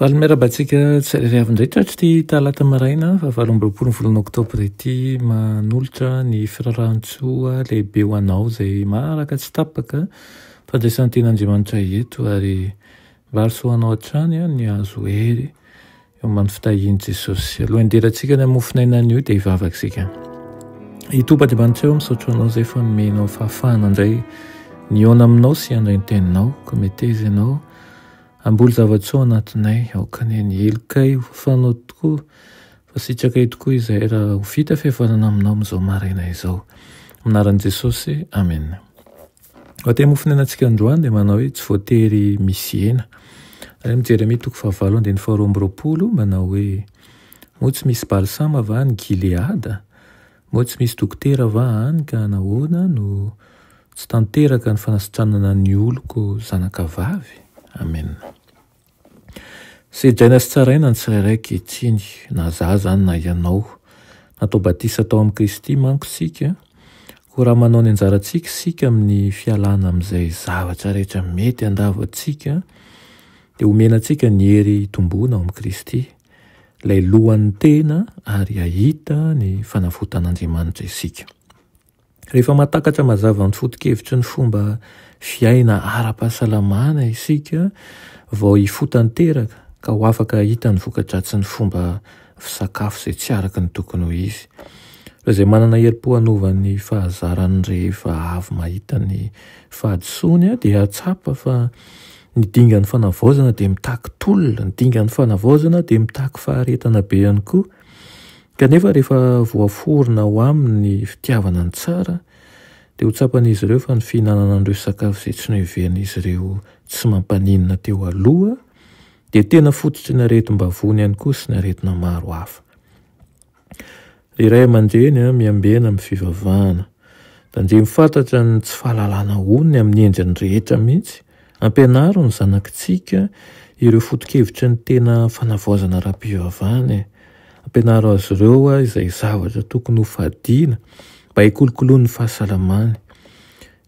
Valy miarahaba antsika tsirairay avy indray tratry ity talata maraina fahavalo amby roapolo ny volana oktobra ity manolotra ny firarahantsoa lehibe ho anao izay maraka tsy tapaka fandraisan'ny ten'Andriamanitra eto ary valisoa anao hatrany ny azo hery eo amin'ny fitahian'i Jesosy. Aloha inderantsika ny amofon'aina anio dia hivavaka isika. I Tompo Andriamanitra eo misaotra anao izay fa nomenao fahafahana indray nihaona aminao sy handray ny teninao. Kometeza ianao. Hamboly zava-tsoa ao anatinay, aoka anie ny helokay ho fafanao tokoa, fa sitrakay tokoa izay raha ho vita fihavanana aminao amin'izao maraina izao. Amin'ny anaran'i Jesosy, amena. Vatay mofon'enantsika androany dia manao hoe tsy voatery misy hena. Ary amin'ny Jeremia toko fahavalo andininy faharoa amby roapolo manao hoe, Moa tsy misy balsama va any Gileada? Moa tsy misy dokotera va any ka nahoana no tsy tanteraka ny fanasitranana ny oloko zanaka vavy? Amen. Sedraina sy tsaraina ny tsirairay ankehitriny, na za zany na ianao. Natao batisa tao amin'i Kristy manko isika, koa raha manao ny anjarantsika isika amin'ny fialana amin'izay zavatra rehetra mety handavo antsika, dia omena antsika ny hery hitomboana ao amin'i Kristy. Ilay lohan'ny tena ary hahita ny fanavotan'Andriamanitra isika. Rehefa mahatakatra mazava ny foto-kevitry ny fomba fiaina ara-pahasalamana isika vao hifotanteraka ka ho afaka hahita ny vokadratsin'ny fomba fisakafo izay tsy araka ny tokony ho izy. Ireo izay manana herim-po hanova ny fahazarany rehefa avy mahita ny fahadisoany dia hahatsapa fa Ny dingan'ny fanavaozana dia mitaky tolona, ny dingan'ny fanavaozana dia mitaky faharetana be ihany koa. Kanefa rehefa voaforona ao aminy ny fitiavana ny tsara, dia ho tsapan'izy ireo fa ny fihinanana an'ireo sakafo izay tsy noheverin'izy ireo tsy mampaninona teo aloha dia tena fototry ny aretim-bavony ihany koa sy ny aretina maro hafa. Ry Ray aman-dReny a, miambena amin'ny fivavahana. Tandremo fantatra ny tsy fahalalana onony amin'ny endriny rehetra mihitsy. Ampianaro ny zanakitsika ireo foto-kevitry ny tena fanavaozana ara-pivavahana e. Ampianaro azy ireo izay zavatra tokony hofadiana mba hikolokoloany ny fahasalamany.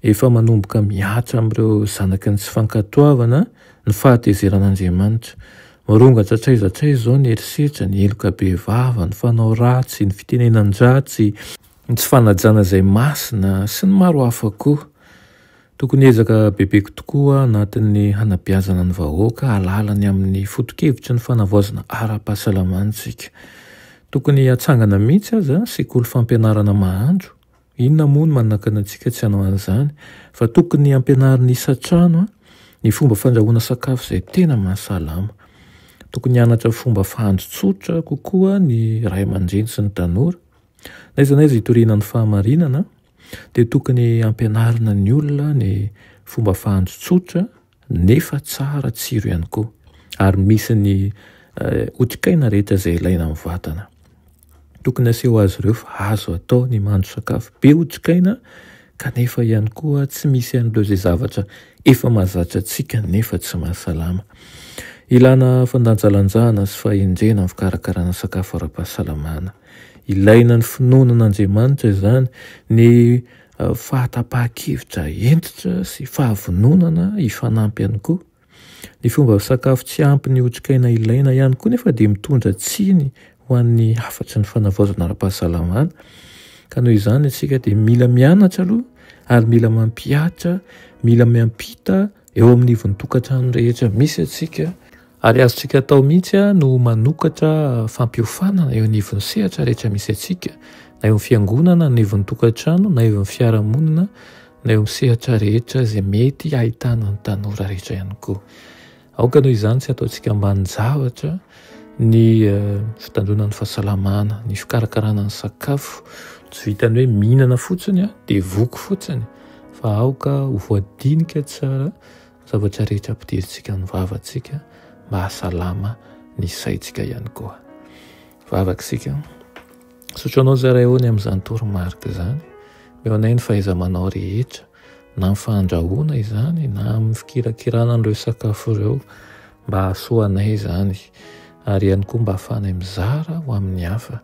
Efa manomboka mihatra amin'ireo zanaky ny tsy fankatoavana ny fahatezeran'Andriamanitra. Mirongatra hatraiza hatraiza izao ny herisetra, ny heloka bevava, ny fanao ratsy, ny fitenenan-dratsy, ny tsy fanajana izay masina, sy ny maro hafa koa. Tokony hiezaka bebe tokoa aho anatin'ny hanabeazana ny vahoaka hahalala ny amin'ny foto-kevitry ny fanavaozana ara-pahasalamana isika. Tokony hatsangana mihitsy aza sekoly fampianarana mahandro Inona moa no manakana antsika tsy hanao an'izany? Fa tokony hampianarin'ny isan-trano ny fomba fandrahoana sakafo izay tena mahasalama. Tokony hianatra fomba fahandro tsotra kokoa ny ray aman-dreny sy ny tanora. N'aiza n'aiza hitoriana ny fahamarinana, dia tokony hampianarina ny olona ny fomba fahandro tsotra. nefa tsara tsiro ihany koa ary misy ny otrikaina rehetra izay ilaina amin'ny vatana. Tokony aseho azy ireo fa azo atao ny mandro sakafo be otrikaina kanefa ihany koa tsy misy an'ireo izay zavatra efa mahazatra antsika nefa tsy mahasalama. Ilana fandanjalanjana sy fahendrena amin'ny fikarakarana sakafo ara-pahasalamana. Ilaina ny finoana an'Andriamanitra izany, ny fahatapahan-kevitra hentitra sy fahavononana hifanampy ihany koa. Ny fomba sakafo tsy ampy ny otrikaina ilaina ihany koa nefa dia mitondra tsiny ho an'ny hafatry ny fanavaozana ara-pahasalamana. Ka noho izany isika dia mila mianatra aloha ary mila mampihatra, mila miampita eo amin'ny ivon-tokantrano rehetra misy antsika. Ary azontsika atao mihitsy no manokatra fampiofanana eo anivon'ny sehatra rehetra misy antsika, na eo amin'ny fiangonana, na eo amin'ny tokantrano, na eo amin'ny fiarahamonina, na eo amin'ny sehatra rehetra izay mety ahitana ny tanora rehetra ihany koa. Aoka noho izany tsy ataontsika ambanin-javatra ny eh, fitandroana ny fahasalamana, ny fikarakarana ny sakafo, tsy vitany hoe mihinana fotsiny dia voky fotsiny fa aoka ho voadinika tsara Zavatra rehetra ampidirintsika amin'ny vavantsika mba hahasalama ny saintsika ihany koa. Vavaka isika. Misaotra anao Zara Eony amin'izany toromarika izany. Mihaonay ny fahaiza-manao rehetra na amin'ny fandrahoana izany na amin'ny fikirakirana an'ireo sakafo ireo mba hahasoa anay izany ary ihany koa mba hahafahanay mizara ho amin'ny hafa.